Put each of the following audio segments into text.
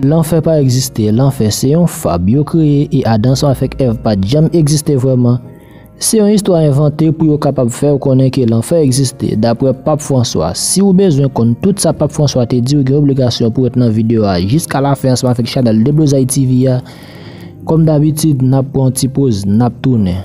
Lanfè pa egziste, lanfè se yon fab yo kreye e Adan san avèk Èv pa t janm egziste vrèman. Se yon istwa envante pou yo kapab fè w konnen ke lanfè egziste, daprè Pap Franswa. Si ou bezwen konn tout sa Pap Franswa te di ou gen obligasyon pou ret nan video a jiska la fen ansanm avèk chanèl Deblozay TV a. Kòm dabitid, n ap pran yon ti poz, n ap tounen.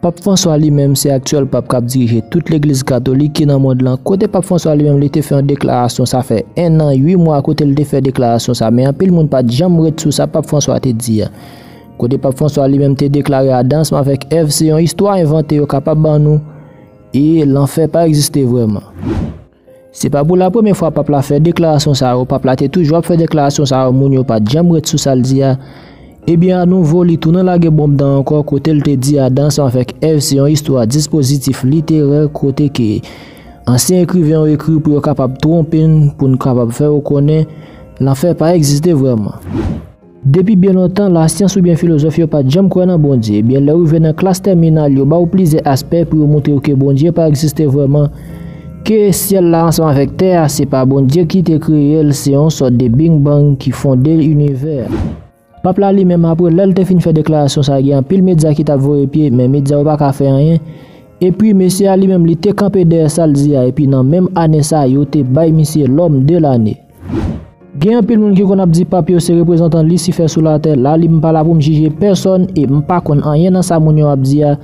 Pap Franswa li menm se aktyèl pap kap dirije tout legliz katolik ki nan mond lan kote pap Franswa li menm li te fè yon deklarasyon sa fè 1 an 8 mwa kote li te fè deklarasyon sa men anpil moun pat janm ret sou sa pap Franswa te di a kote pap Franswa li menm te deklare Adams avèk Èv se yon istwa envante yo kapab ban nou e lanfè pa egziste vrèman. Se pa pou la premye fwa Pap la fè deklarasyon sa yo, Pap la te toujou ap fè deklarasyon sa yo moun yo pat janm ret sou sal di a, ebyen a nouvo li tounen lage bonm dan ankò kotel te di Adan avèk Èv se yon istwa dispozitif literè kote ke ansyen ekriven yo ekri pou yo kapab twonpe n pou n kapab fè yo konnen lanfè pa egziste vrèman. Depi byen lontan, lasyans oubyen filozòf yo pa t janm kwè nan Bondye. Ebyen, lè ou rive nan klas tèminal, yo ba ou plizyè aspè pou yo montre ou ke Bondye pa egziste vrèman, ke syèl la ansanm avèk tè a, se pa Bondye ki te kreye l, se yon sòt de Bing Bang ki fonde inivè a. Pap la li menm apre, lè l te fin fè deklarasyon sa a, gen anpil medya ki t ap voye pye, men medya yo pa ka fè anyen. Epi, mesye a li menm, li te kanpe dèyè sa l di a, epi nan menm ane sa a, yo te bay misye Lòm de Lane. Gen anpil moun ki konn ap di Pap yo se reprezantan lisifè sou latè la li m pa la pou m jije pèsòn e m pa konn anyen nan sa moun yo ap di a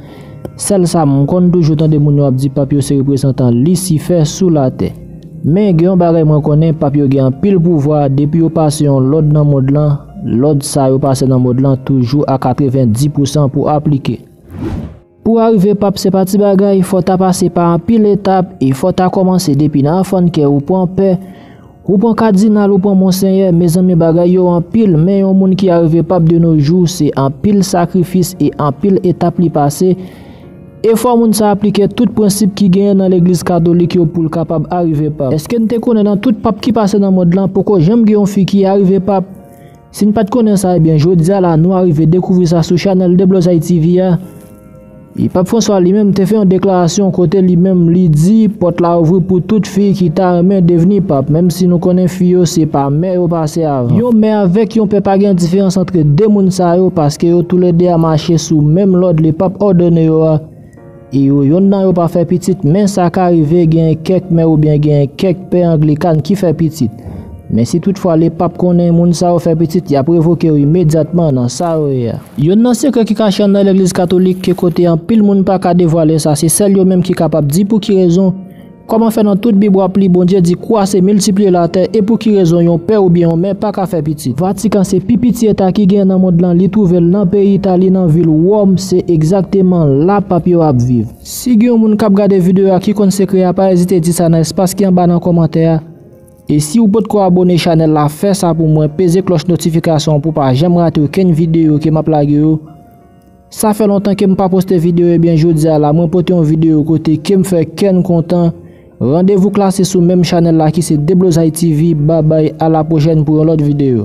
sèl sa m konn toujou tande moun yo ap di Pap yo se reprezantan lisifè sou latè men gen yon bagay mwen konnen Pap yo gen anpil pouvwa depi yo pase yon lòd nan mond lan lòd sa yo pase nan mond lan toujou a 90 pousan pou aplike. Pou arive pap se pa ti bagay, fò w ta pase pa anpil etap e fò w ta kòmanse depi nan anfan n kè ou pran pè, ou pran kadinal ou pran monsenyè, mezanmi bagay yo anpil men yon moun ki arive pap de no jou se anpil sakrifis e anpil etap li pase e fò moun sa aplike tout prensip ki genyen nan legliz katolik yo pou l kapab arive pap. Eske n te konnen nan tout pap ki pase nan mond lan poko janm gen yon fi ki arive pap? Si n pat konnen sa ebyen jodia la nou arive dekouvri sa sou chanèl Deblozay TV a. E Pap Franswa li menm te fè yon deklarasyon kote li menm li di pòt la ouvri pou tout fi ki ta renmen devni Pap menm si nou konnen fi yo se pa mè yo pase avan. Yon mè avèk yon pè pa gen diferans antre 2 moun sa yo paske yo tou le 2 a mache sou menm lòd le Pap òdone yo a. E yo yonn nan yo pa fè pitit, men sa ka rive genyen kèk mè oubyen genyen kèk pè anglikan ki fè pitit. Men si tout fwa lepap konnen moun sa yo fè pitit, y ap revoke yo imedyatman nan sa yo ye a. Yonn nan sekrè ki kache anndan legliz katolik ke kote anpil moun pa ka devwale sa, se sèl yo menm ki kapab di pou ki rezon, Kòman fè nan tout bib wap li Bondye di kwa se miltipliye latè e pou ki rezon yon pè oubyen yon mè paka fè pitit. Vatikan se pi piti eta ki genyen nan mond lan li twouvel nan peyi Itali nan vil Wòm se egzakteman la pap yo ap viv. Si gen yon moun kap gade video a ki konn sekrè a pa ezite di sa nan espas ki anba nan kòmantè a e si ou potko abone chanèl la fè sa pou mwen peze klòch notifikasyon an pou pa janm rate okenn video ke map lage yo Sa fè lontan kem pa poste video ebyen jodia la mwen pote yon video kote kem fè kèn kontan randevou klase sou menm chanèl la ki se deblozay TV babay a la prochèn pou yon lòt video.